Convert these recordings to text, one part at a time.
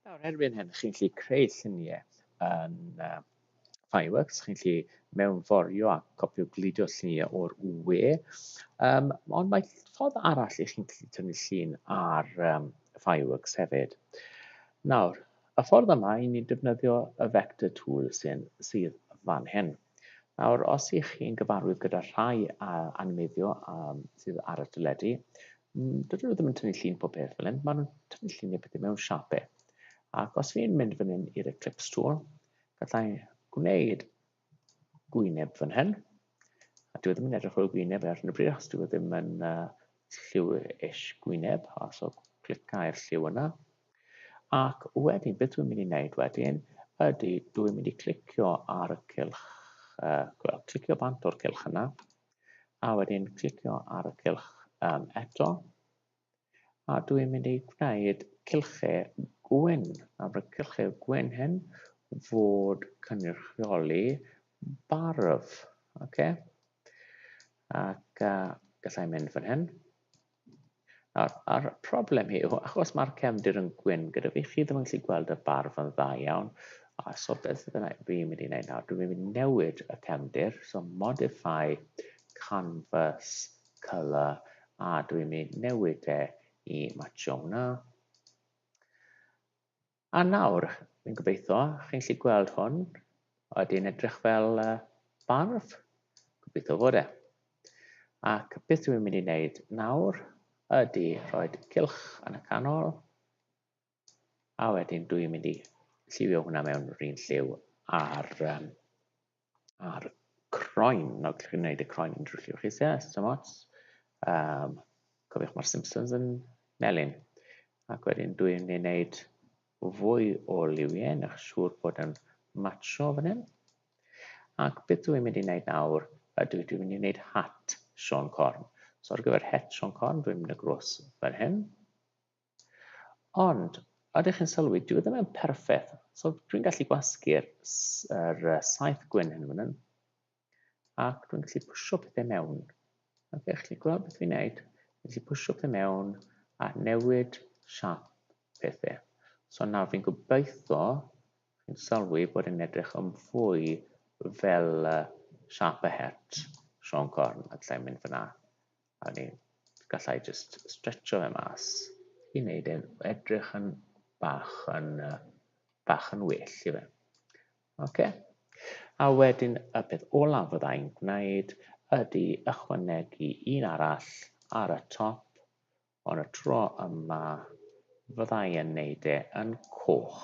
Nawr, erbyn hyn, chi'n gallu creu lluniau yn uh, Fireworks, chi'n gallu mewnforio a copio glidio lluniau o'r UE, um, ond mae ffordd arall i chi'n gallu tynnu llun ar um, Fireworks hefyd. Nawr, y ffordd yma i ni'n defnyddio y vector tool sy'n sydd fan hyn. Nawr, os ych chi'n gyfarwydd gyda rhai animeiddio sydd ar y teledu, dydyn nhw ddim yn tynnu llun pob peth fel hyn, maen nhw'n tynnu llun y pethau mewn siape. Ac os fi'n mynd fan hyn i'r Eclipse tool, gallai gwneud gwyneb fan hyn, a dwi e ddim yn edrych o'r gwyneb ar hyn o bryd, achos dwi e ddim yn uh, lliw eich gwyneb, os o clicau'r lliw yna, Ac wedyn, beth dwi'n mynd i wneud wedyn ydy, dwi'n mynd i clicio ar y cylch, uh, well, clicio bant o'r cylch yna, a wedyn clicio ar y cylch um, eto, a dwi'n mynd i gwneud cylchau gwyn, a mae'r cylchau gwyn hyn fod cynrychioli barf, oce? Okay? Ac uh, gallai mynd fan hyn. Nawr, a'r problem yw, achos mae'r cefndir yn gwyn gyda fi, chi ddim yn gallu gweld y barf yn dda iawn, a so beth ydyn nhw, fi'n mynd i wneud nawr, dwi'n mynd i newid y cefndir, so modify canvas colour, a dwi'n mynd i newid e i match hwnna. A nawr, fi'n gobeithio, chi'n gallu gweld hwn, oedd yn edrych fel uh, barf, gobeithio fod e. Ac beth dwi'n mynd i wneud nawr ydy rhoi cilch yn y canol, a wedyn dwi'n mynd i lliwio hwnna mewn rhywun lliw ar um, a'r croen, nawr chi'n gwneud y croen yn drwllio chi, yes, so much. Um, cofiwch mae'r Simpsons yn melyn. Ac wedyn dwi'n ei wneud fwy o liwiau, nech siŵr bod yn matcho fan hyn. Ac beth dwi'n mynd i wneud nawr, ydw dwi'n mynd i wneud hat Sean Corn. So ar gyfer het Sean Corn, dwi'n mynd y gros fan hyn. Ond, ydych chi'n sylwi, dwi e ddim yn perffaith. So, dwi'n gallu gwasgu'r er, saith gwyn hyn fan hyn. Ac dwi'n gallu pwysio pethau mewn. Ac okay, chi'n gweld beth fi'n neud? Dwi'n gallu pwysio pethau mewn a newid siap pethau. So nawr fi'n gobeithio chi'n sylwi bod yn edrych yn fwy fel siap y het Sean Corn a lle mynd fyna. A ni, gallai jyst stretcho fe mas i wneud e'n edrych yn bach yn, uh, bach yn well i fe. Ok. A wedyn y peth olaf fyddai'n gwneud ydy ychwanegu un arall ar y top, ond y tro yma fyddai yn wneud e yn coch.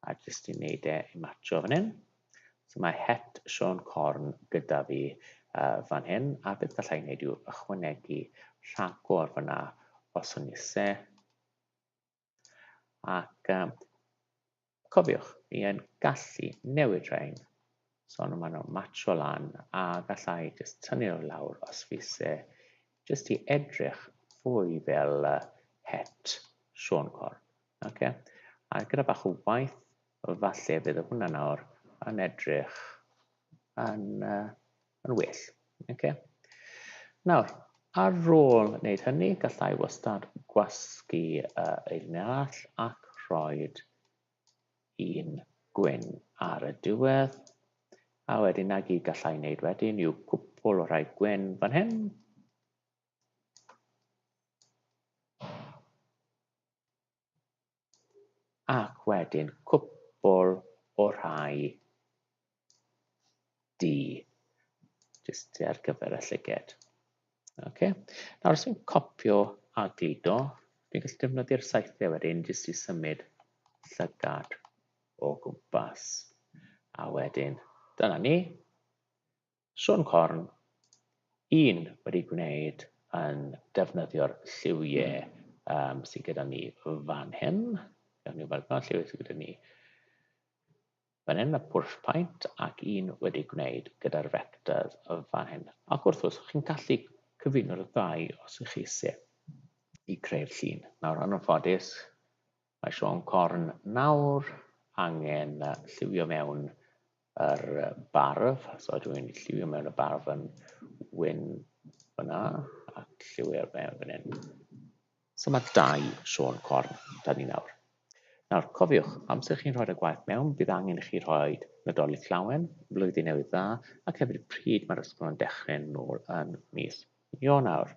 A jyst i wneud e i matcho fan hyn. So mae het Sean Corn gyda fi uh, fan hyn, a beth gallai ei wneud yw ychwanegu rhagor fyna os o'n ise. Ac um, cofiwch, mi yn gallu newid rhain So nhw maen nhw'n matcho lan a gallai jyst tynnu nhw lawr os fi se jyst i edrych fwy fel uh, het Sean Cor. Okay? A gyda bach o waith, falle bydd hwnna nawr yn edrych yn, uh, yn well. Okay? Nawr, ar ôl wneud hynny, gallai wastad gwasgu uh, eiriau arall ac rhoi un gwyn ar y diwedd. A wedyn na gyd gallai wneud wedyn yw cwpl o rhai gwyn fan hyn. Ac wedyn cwpl o rhai D. Just ar gyfer y llyged. Okay. Nawr, os fi'n copio a gludo, fi'n gallu defnyddio'r saethau wedyn jyst i symud llygad o gwmpas. A wedyn, dyna ni. Sôn corn, un wedi gwneud yn defnyddio'r lliwiau um, sydd gyda ni fan hyn. Gawn ni weld pa lliwiau sydd gyda ni. Fan hyn mae push paint ac un wedi gwneud gyda'r vectors fan hyn. Ac wrth gwrs, chi'n gallu cyfuno'r ddau os ych chi eisiau i creu'r llun. Nawr, yn ffodus, mae Sean Corn nawr angen lliwio mewn yr barf. So dwi'n lliwio mewn y barf yn wyn fyna a lliwio'r mewn fan hyn. So mae dau Siôn Corn 'da ni nawr. Nawr, cofiwch, amser chi'n rhoi'r gwaith mewn, bydd angen i chi rhoi Nadolig Llawen, Blwyddyn Newydd Dda, ac hefyd pryd mae'r ysgol yn dechrau nôl yn mis Ionawr.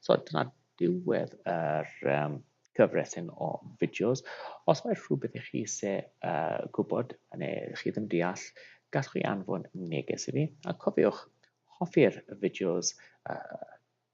So dyna diwedd yr um, gyfres hyn o fideos. Os mae rhywbeth i chi se uh, gwybod neu chi ddim deall, gallwch chi anfon neges i fi. A cofiwch, hoffi'r fideos uh,